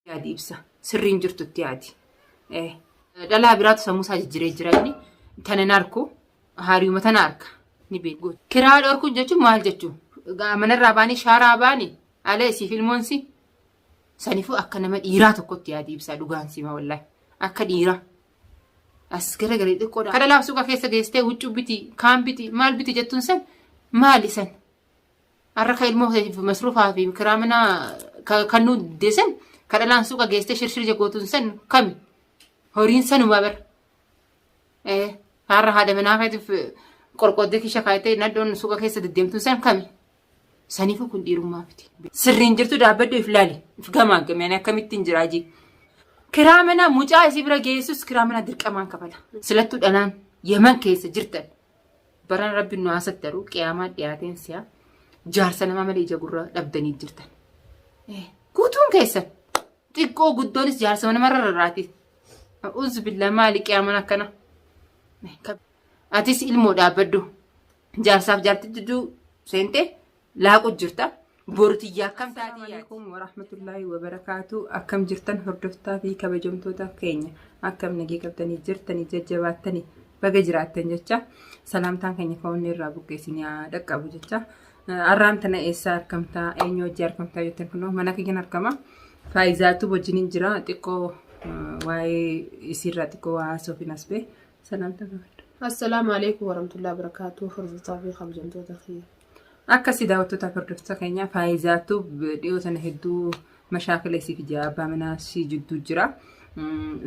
yaadi ibsa sirriin jirtutti yaadi. Eh, Dhalaa biraatu sammuu isaa jijjiiree jira inni tana hin arku haariuma tana arka ni beeku. Kiraa dhorkuun jechuun maal jechuun? Manarraa baanii shaaraa baanii ala isiif ilmoon si sanifuu akka nama dhiiraa tokkotti yaadi ibsaa dhugaan sima wallahi akka dhiiraa. As gara galee xiqqoodha. Kadha laaf suuqa keessa geessitee huccuu biti kaan biti maal biti jettuun san maali san? Har'a ka ilmoo keetiif masruufaa fi kiraa manaa ka- kan nuu deessan ka dhalaan suuqa geessee shirshir jagootuun san kami horiin sanumaa bara. Eh, Har'a haadha manaa keetiif qorqooddee keessa kaayitee nadhoon suuqa keessa deddeemtuun san kami saniifuu kun dhiirummaa miti. Sirriin jirtu dhaabbadhu if laali if gamaaggame ani akkamittiin jiraa jii. Kiraa manaa mucaa isii bira geessus kiraa manaa dirqamaan kafala. Silattuu dhalaan yaman keessa jirtan Barana rabbiin nu haasattaru qiyaamaa dhiyaateen si'a jaarsa namaa malee ija gurra dhabdanii jirtan. Guutuun keessan xiqqoo guddoonis jaarsa mana marra irraati. Uzu billaa maali qiyaaman akkana. Atis ilmoo dhaabbaddu. Jaarsaaf jaarti jidduu seentee laaqu jirta. Boru tiyya akkam taatee yaadi. Assalamualaikum warahmatullahi wabarakatuh. Akkam jirtan hordoftaa fi kabajamtoota keenya. Akkam nagee qabdanii jirtanii jajjabaattanii baga jiraattan jecha salaamtaan keenya ka'oonni irraa buqqeessinii haa dhaqqabu jecha. Arraan tana eessaa argamtaa eenyu hojii argamtaa jettan kunoo mana kiyyan argama. Faayizaatu wajjiniin jira xiqqoo waa'ee isiirraa xiqqoo waa haasofin as bee salaamtaa gaafadha. Assalaamu alaikum warahmatullahi wabarakatuh. Hordoftaa fi kabajamtoota keenya. Akkasi daawwattoota hordoftoota keenyaa faayizaattu dhiyoo sana hedduu mashaakila isii fi abbaa manaa ishii jidduu jira.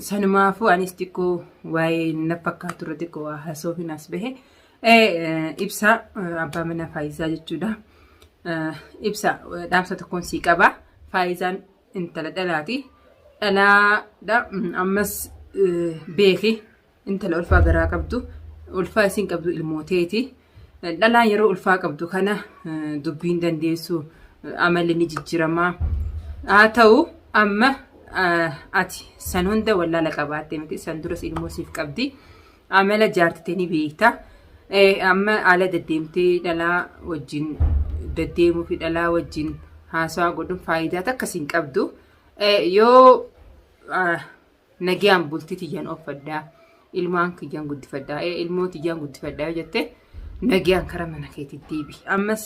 Sanumaafuu anis xiqqoo waa'ee na fakkaatu irra xiqqoo waa haasoofiin as bahe. Ibsaa abbaa manaa faayizaa jechuudha. Ibsaa dhaamsa tokkoon sii qaba. Faayizaan intala dhalaati. Dhalaadha ammas beeki intala ulfaa garaa qabdu ulfaa isiin qabdu ilmooteeti dhalaa yeroo ulfaa qabdu kana dubbiin dandeessu amalli ni jijjiramaa haa ta'u amma ati san hunda wallaala qabaatte miti san duras ilmoo siif qabdi amala jaartite ni beekta amma ala deddeemtee dhalaa wajjin deddeemuu fi dhalaa wajjin haasawaa godhuun faayidaa takka siin qabdu yoo Nagiyaan bultii tiyyan offadhaa. Ilmaan kiyyan guddifadhaa. Ee ilmoo tiyyan guddifadhaa yoo jette nagiyaan kara mana keetii deebi. Ammas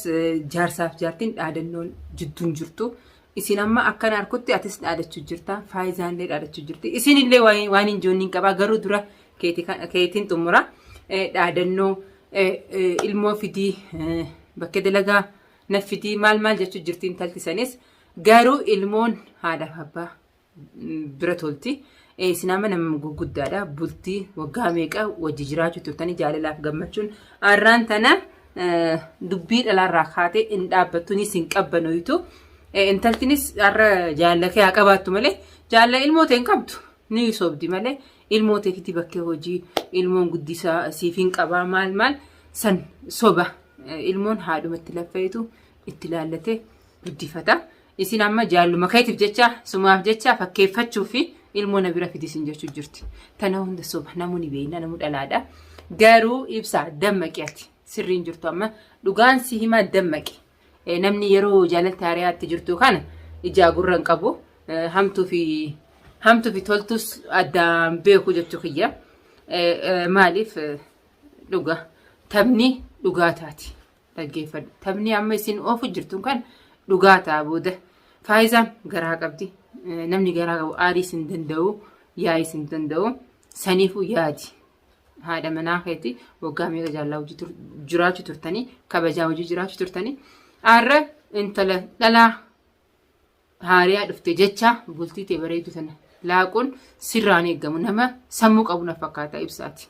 jaarsaaf jaartiin dhaadannoon jidduun jirtu. Isin amma akkan harkutti atis dhaadachuu jirta. Faayizaan illee dhaadachuu jirti. Isin illee waan hin joonniin qabaa garuu dura keetiin xumura. Dhaadannoo ilmoo fidii bakkee dalagaa na fidii maal maal jechuu jirti intalti sanis garuu ilmoon haadhaaf abbaa bira tolti. Isin amma nama gurguddaadha. Bultii waggaa meeqa wajji jiraachuu turtanii jaalalaaf gammachuun arraan tana dubbii dhalaarraa kaatee hin dhaabbattunis hin qabbanoytu. Intaltinis har'a jaalala kee haa qabaattu malee jaalala ilmoo ta'e hin qabdu. Ni sobdi malee ilmoo ta'eefiti bakkee hojii ilmoon guddisaa siif hin qabaa maal maal san soba. Ilmoon haadhumatti laffa'etu itti laallatee guddifata. Isin amma jaalluma keetiif jecha sumaaf jecha fakkeeffachuuf fi ilmoo na bira fidi sin jechuu jirti. Tana hunda soba namuu ni beekna namuu dhalaadha. Garuu ibsa dammaqi ati sirriin jirtu amma dhugaan si himaa dammaqi. Eh, Namni yeroo jaalalti hariyaatti jirtu kana ijaa gurra hin qabu Eh, hamtuu fi hamtuu fi toltus addaan beeku jechuu kiyya. Eh, eh, Maaliif eh, dhuga taphni dhugaa taati. Dhaggeeffadhu. Taphni amma isin oofu jirtu kan dhugaa ta'a booda. Faayizaan garaa qabdi. Eh, Namni garaa qabu aarii isin danda'u, yaa'ii isin danda'u. Saniifuu yaadi. Haadha manaa keetii waggaa meeqa jaallaa hojii tur- jiraachuu turtanii, kabajaa hojii jiraachuu turtanii. Har'a intala dhalaa haariyaa dhufte jecha bultii tee bareedu tana laaquun sirraan eegamu nama sammuu qabu na fakkaata ibsaati.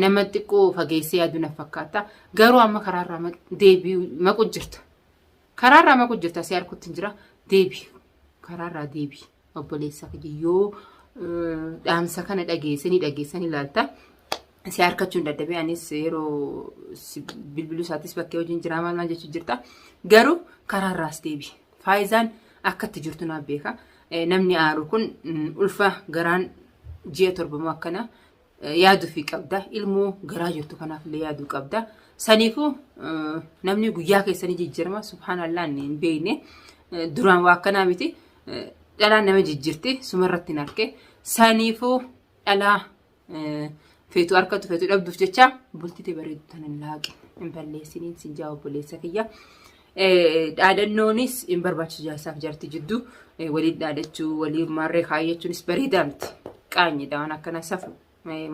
Nama xiqqoo fageessee yaadu na fakkaata. Garuu amma karaarraa deebi'u maqu jirta. Karaarraa maqu jirta si harkutti hin jira deebi. Karaarraa deebi obboleessa kiyya yoo dhaamsa kana dhageesse ni dhageessa ni laalta. Si harkachuun dadhabee anis yeroo bilbiluu isaatis bakkee hojiin jiraa maal maal jechuu jirta. Garuu karaarraas deebi. Faayizaan akka itti jirtu naaf beeka. Namni aaru kun ulfa garaan ji'a torbamoo akkana yaaduufi qabda. Ilmoo garaa jirtu kanaaf illee yaaduu qabda. Saniifuu namni guyyaa keessanii jijjiirama subhaanallaa inni hin beekne duraan waa akkanaa miti dhalaan nama jijjiirti sumarratti hin arke. Saniifuu dhalaa feetu harkatu feetu dhabduuf jecha bultite bareedu tan hin laaqe hin balleessiniin sin jaa obboleessa kiyya. Dhaadannoonis hin barbaachisu jaarsaaf jarti jidduu waliin dhaadachuu waliin maarree kaayyachuunis bareedaa miti. Qaanyidha waan akkana safu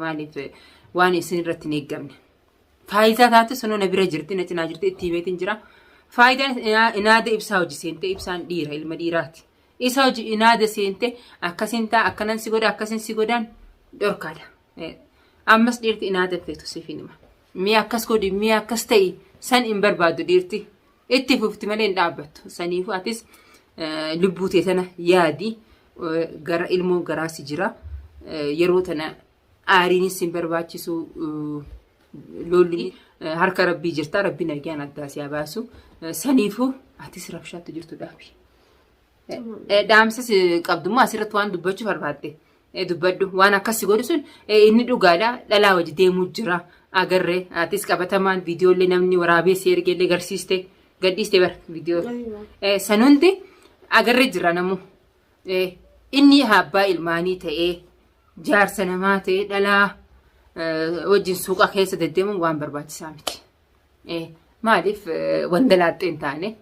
maaliif waan isin irratti hin eeggamne. Faayidaa taate sunoo na bira jirti na cinaa jirti itti himeetiin jira. Faayidaan inaada ibsaa hojii seentee ibsaan dhiira ilma dhiiraati. Isa hojii inaada seente akkasin ta'a akkanan si godha akkasin si godhaan dhorkaadha. Ammas dhiirti inaada hin feetu siif hin hima. Mee akkas godhi mee akkas ta'i san hin barbaadu dhiirti. Itti fufti malee hin dhaabbattu. Saniifuu atis lubbuu tee tana yaadi gara ilmoo garaa si jira. Yeroo tana aariinis hin barbaachisu lolli harka rabbii jirta rabbii nagaan addaa si haa baasu. Saniifuu atis rabshaatti jirtu dhaabi. Dhaamsas qabdummaa asirratti waan dubbachuu barbaadde dubbadhu. Waan akkas si godhu sun inni dhugaadha. Dhalaa wajji deemuu jira. Agarree atis qabatamaan viidiyoollee namni waraabee si ergeellee garsiiste gadhiiste bara viidiyoo. San hundi agarree jira namu. Inni abbaa ilmaanii ta'ee jaarsa namaa ta'ee dhalaa wajjin suuqa keessa deddeemuun waan barbaachisaa miti. Maaliif wanda laaxxee hin taane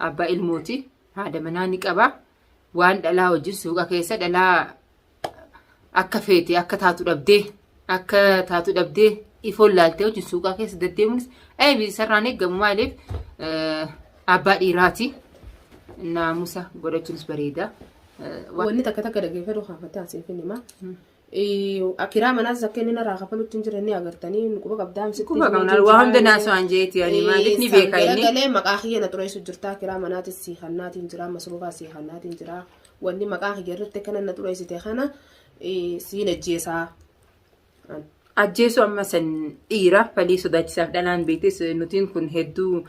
abbaa ilmooti haadha manaa ni qaba. Waan dhalaa wajjin suuqa keessa dhalaa akka feete akka taatu dhabdee akka taatu dhabdee ifoon laaltee wajjin suuqaa keessa deddeemuunis eebi sarraan eegamu maaliif abbaa dhiiraati naamusa godhachuunis bareeda. Wanni takka takka dhaggeeffadhu haa fataa siif hin himaa. Akiraa manaas akka inni narraa kafalutti hin jirre ni agartanii nu quba qabdaan sitti Quba qabna waa hunda naasoo an jeeti ani maaliif ni beeka inni. Galee maqaa kiyya na xureessu jirtaa kiraa manaatis sii hannaatiin jiraa masruufaa sii hannaatiin jiraa wanni maqaa kiyya irratti kana na xureessite kana siin ajjeesaa. Ajjeesuu amma san dhiira falii sodaachisaaf dhalaan beektes nutiin kun hedduu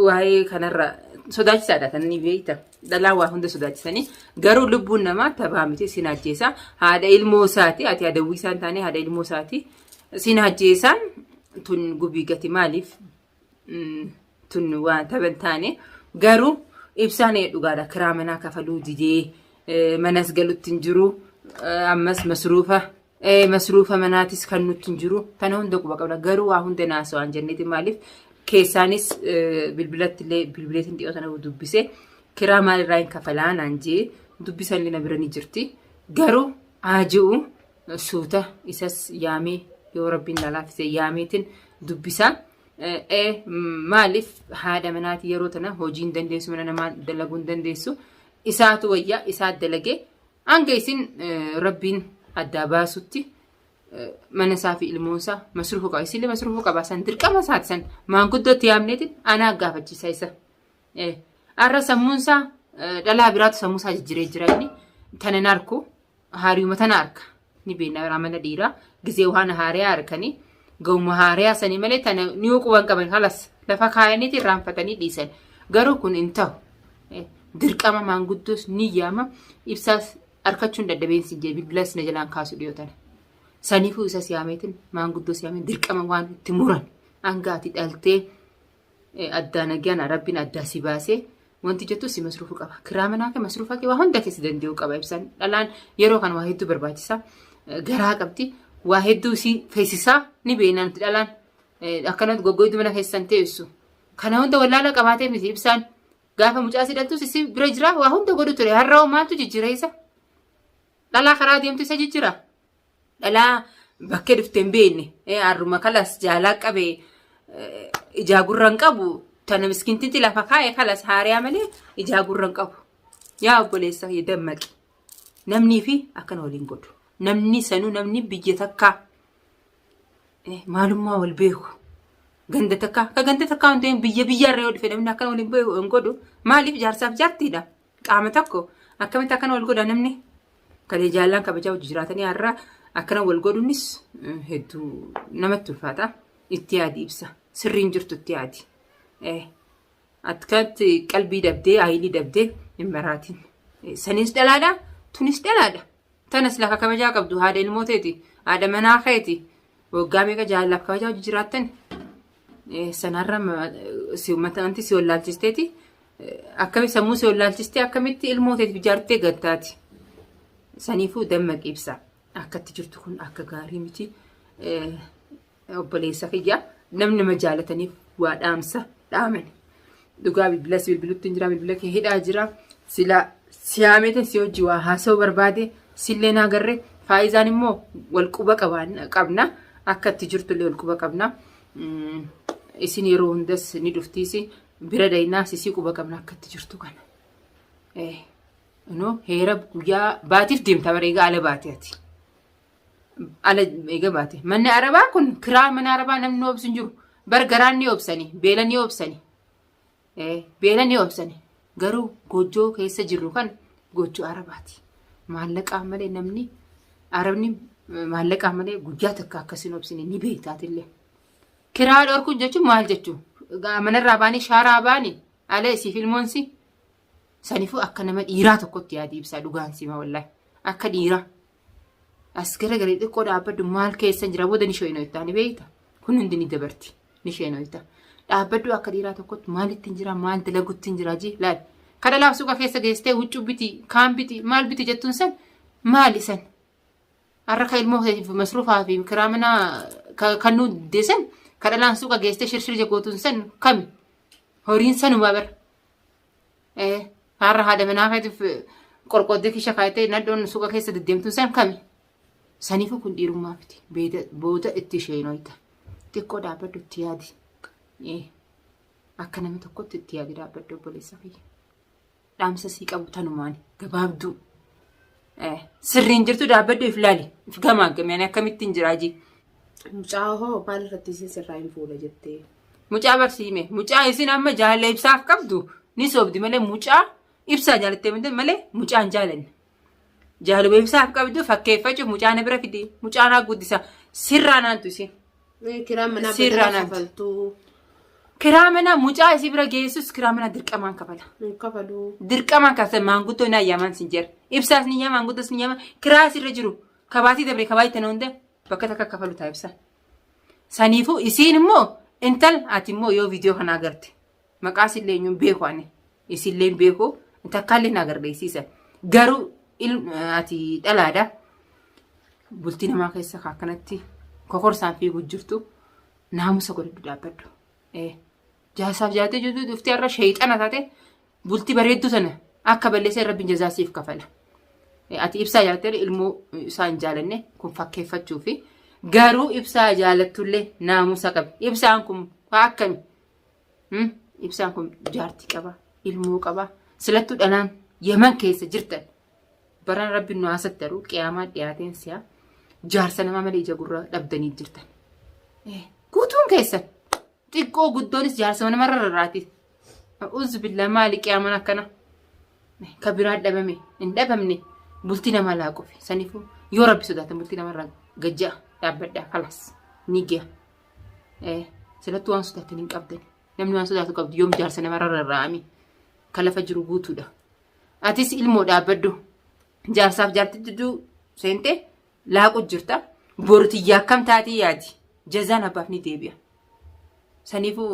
waa'ee kanarra sodaachisaadha kan inni beekta. Dhalaa waa hunda sodaachisanii garuu lubbuun namaa tabaa miti sin ajjeesa. Haadha ilmoo isaati ati adawwii isaan taane haadha ilmoo isaati sin ajjeesaan tun gubii gati maaliif mm, tun waan taban taane garuu ibsaan ee dhugaadha kiraa manaa kafaluu didee eh, manas galutti hin jiru eh, ammas masruufa Masruufa manaatis kan nutti hin jiru. Kana hunda quba qabna. Garuu waa hunda naasoo waan jenneeti maaliif keessaanis bilbilatti illee bilbileetiin dhiyoo sana dubbise kiraa maalirraa hin kafalaa naan jee dubbisan illee na bira ni jirti. Garuu haa ji'u suuta isas yaamee yoo rabbiin na laaffise yaameetiin dubbisa. Maaliif haadha manaati yeroo tana hojiin dandeessu mana namaa dalaguun dandeessu. Isaatu wayyaa isaa dalagee Hanga isin rabbiin addaa baasutti mana isaa fi ilmoon isaa masruufa qaba. Isillee masruufa qaba. San dirqama isaati san maanguddootti yaamneetiin anaa gaafachiisa isa. Har'a sammuun isaa dhalaa biraatu sammuu isaa jijjiree jira inni tana hin arku haariuma tana arka. ni beekna amala dhiiraa gizee waan haariyaa harkanii gahuma haariyaa sanii malee tana ni quban qaban halas lafa kaayaniiti irraanfatanii dhiisan garuu kun hin ta'u dirqama maanguddoos ni yaama ibsaas harkachuun dadhabeensi hin jedhe bilbilas na jalaan kaasu dhiyootana saniifuu isa siyaameetiin maanguddoos yaamee dirqama waan itti muran hangaati dhaltee addaa nagyaan rabbiin addaa si baasee wanti jettu si masruufu qaba. Kiraa manaa kee masruufa kee waa hunda kee si danda'u qaba ibsaan. Dhalaan yeroo kan waa hedduu barbaachisa. Garaa qabdi. Waa hedduu si feesisaa ni beekna nuti dhalaan. Akkanatti goggoidduu mana keessan teessu. Kana hunda wallaala qabaatee miti ibsaan. Gaafa mucaa si dhaltus si bira jira waa hunda godhu ture. Har'a hoo maaltu jijjiira isa? Dhalaa karaa deemtu isa jijjiira. dhalaa bakkee dhufte hin beekne harruma kalas jaalaa qabe ijaa gurra hin qabu tana miskintitti lafa kaa'e kalas haariyaa malee ijaa gurra hin qabu yaa obboleessa kiyya dammaqi namnii fi akkana waliin godhu namni sanuu namni biyya takkaa maalummaa wal beeku ganda takkaa ka ganda takkaa hundeen biyya biyyaarra yoo dhufe namni akkana waliin beeku hin godhu maaliif jaarsaaf jaartiidha Qaama tokko akkamitti akkana wal godha namni kalee jaallaan kabajaa wajji jiraatanii har'a akkana wal godhuunis hedduu namatti ulfaata. Itti yaadi ibsa. Sirriin jirtu itti yaadi. Akkatti qalbii dabdee ayilii dabdee hin maraatiin. Sanis dhalaadha tunis dhalaadha. Tanas lafa kabajaa qabdu haadha ilmooteeti haadha manaa keeti waggaa meeqa jaallaaf kabajaa wajji jiraattan Sanarra si'ummata anti si wallaalchisteeti. Akkamitti sammuu si wallaalchistee akkamitti ilmoo teetiif ijaartee gattaati. Saniifuu dammaqi ibsa. Akkatti jirtu kun akka gaarii miti. Obboleessa kiyya namni nama jaalataniif waa dhaamsa dhaamani. Dhugaa bilbila si bilbilutti hin jira bilbila kee hidhaa jira. Sila siyaamete si hojii waa haasoo barbaade sillee naa garre faayizaan immoo wal quba qabna akka itti jirtullee wal quba qabna. Isin yeroo hundas ni dhuftiisi bira daynaa sisii quba qabna akka itti jirtu kana. Inoo heera guyyaa baatiif deemta bareegaa ala baatee ati. ala eega baate. Manni arabaa kun kiraa mana arabaa namni obsu hin jiru. Bar garaan ni obsani, beela ni obsani. Eh, beela ni obsani. Garuu goojjoo keessa jirru kan goojjoo arabaati. Maallaqaa malee namni arabni eh, maallaqaa malee guyyaa takka akkasiin obsine ni beektaatillee. Kiraa dhorkuun jechuun maal jechuun? Manarraa baanii shaaraa baanii ala isiif ilmoonsi. Sanifuu akka nama dhiiraa tokkotti yaadi ibsaa dhugaan sima wallahi. Akka dhiiraa. As gara garii xiqqoo dhaabbadhu maal keessa jira booda ni sheenooyta ni beekta. Kun hundi ni dabarti ni sheenooyta. Dhaabbadhu akka dhiiraa tokkotti maalitti jira maal dalagutti jira jee laal. Kana laaf suuqa keessa geessitee huccuu biti kaan biti maal biti jettuun san maali san. Har'a ka ilmoo keetiif masruufaa fi kiraa manaa ka- kan nu deessan kadhalaan suuqa geessitee shirshir jagootuun san kami. Horiin sanumaa bara. Eh, har'a haadha manaa keetiif eh, qorqooddee keessa kaayitee nadhoon suuqa keessa deddeemtuun san kami? Saniifuu kun dhiirummaa miti. Beeda- Booda itti isheen hoyta. Xiqqoo dhaabbadhu itti yaadi. Eh, Akka nama tokkotti itti yaadi dhaabbadhu obboleessa kiyya. Dhaamsa sii qabu tanumaan gabaabduu. Eh, Sirriin jirtu dhaabbadhu if laali. If gamaaggamee ani akkamittiin jiraa jee. Mucaa hoo maal irratti isin sirraa hin fuudha jettee. Mucaa barsiime. Mucaa isin amma jaalala ibsaaf qabdu ni sobdi malee mucaa ibsaa jaalattee miti malee mucaa hin jaalanne. Jaalala ibsaaf qabdu fakkeeffachuuf mucaa na bira fidi. Mucaa naa guddisa. Sirraa naantu isin. Eh, Kiraan manaa Sirraa badala naaf. kafaltuu Kiraa manaa mucaa isii bira geessus kiraa manaa dirqamaan kafala. hin kafaluu. Dirqamaan kafala maanguddoo naa yaamaan sin jira. Ibsaas ni yaama maanguddoos ni yaama. Kiraas irra jiru. Kabaatii dabre kabaa itti hunda bakka takka kafalu taasisa. Saniifuu isiin immoo intal ati immoo yoo viidiyoo kana agarte maqaa isillee eenyuun beeku ani isillee beeku takkaallee na agarsiisa. Garuu ati dhalaadha. Bultii namaa keessa akkanatti kokorsaan fiiguu jirtu naamusa godhadhu dhaabbadhu. Jaasaaf jaatee jirtu dhuftee irra sheexana taate Bultii bareedduu sana akka balleessee rabbiin jazaa siif kafala. Ati ibsaa jaalattee ilmoo isaa hin jaalanne kun fakkeeffachuufi. Garuu ibsaa jaalattullee naamusa qabi. Ibsaan kun akkami? Ibsaan kun jaartii qaba, ilmoo qaba. Silattuu dhalaan Yaman keessa jirtan baraan rabbi nu haasattaru qiyaamaa dhiyaateen si'a jaarsa namaa malee ija gurraa dhabdanii jirtan. Guutuun keessan Xiqqoo guddoonis jaarsa mana marra irraati. A'uuzu billaa maali qiyaaman akkana. Ka biraa dhabame hin dhabamne bultii namaa laaquufi. Saniifuu yoo rabbi sodaatan bultii namarraa gajja'a dhaabbadhaa kalas ni giya. Silattuu waan sodaatan hin qabdan. Namni waan sodaatu qabdu yoom jaarsa namarra rarraa'ame ka lafa jiru guutuudha. Atis ilmoo dhaabbaddu jaarsaaf jaartii jidduu seentee laaqu jirta. Boru tiyya akkam taatee yaadi. Jazaan abbaaf ni deebi'a. Saniifuu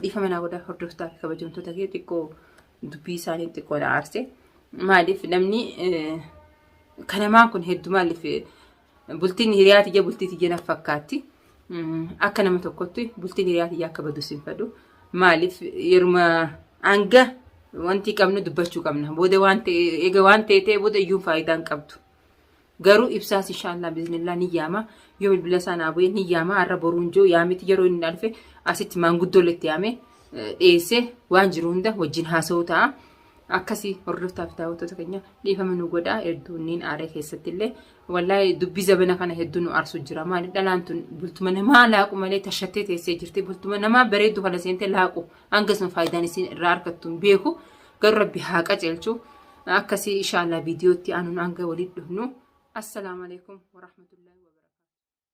dhiifama naa godhaa hordoftaa fi kabajamtoota kee xiqqoo dubbii isaanii xiqqoo na aarse. Maaliif namni kanamaan kun hedduu maaliif bultiin hiriyaa tiyya bultii tiyya na fakkaatti. Akka nama tokkotti bultiin hiriyaa tiyya akka badu sin fedhu. Maaliif yeruma hanga wanti qabnu dubbachuu qabna. Booda waan ta'e eega waan ta'e ta'e booda iyyuu faayidaan qabdu. Garuu ibsaas inshaallaa biznillaa ni yaama. Yoo bilbila isaa naa bu'ee ni yaama. Har'a boruun jiru yaamiti yeroo inni na dhufe asitti maanguddoo letti yaame dhiyeessee waan jiru hunda wajjin haasa'uu ta'a. Akkasii hordoftaa fi daawwattoota keenya dhiifama nu godhaa hedduu niin aaree keessatti illee wallahi dubbii zabana kana hedduu nu aarsu jira maali dhalaan tun bultuma namaa laaqu malee tashattee teessee jirti bultuma namaa bareeddu kana seentee laaqu hangasuma faayidaan isiin irraa argattu hin beeku Garuu rabbi haa qajeelchu. Akkasii ishaallah viidiyootti aanuun hanga walitti dhufnu. Assalaamu alaikum warahmatullahi wabarakatuh.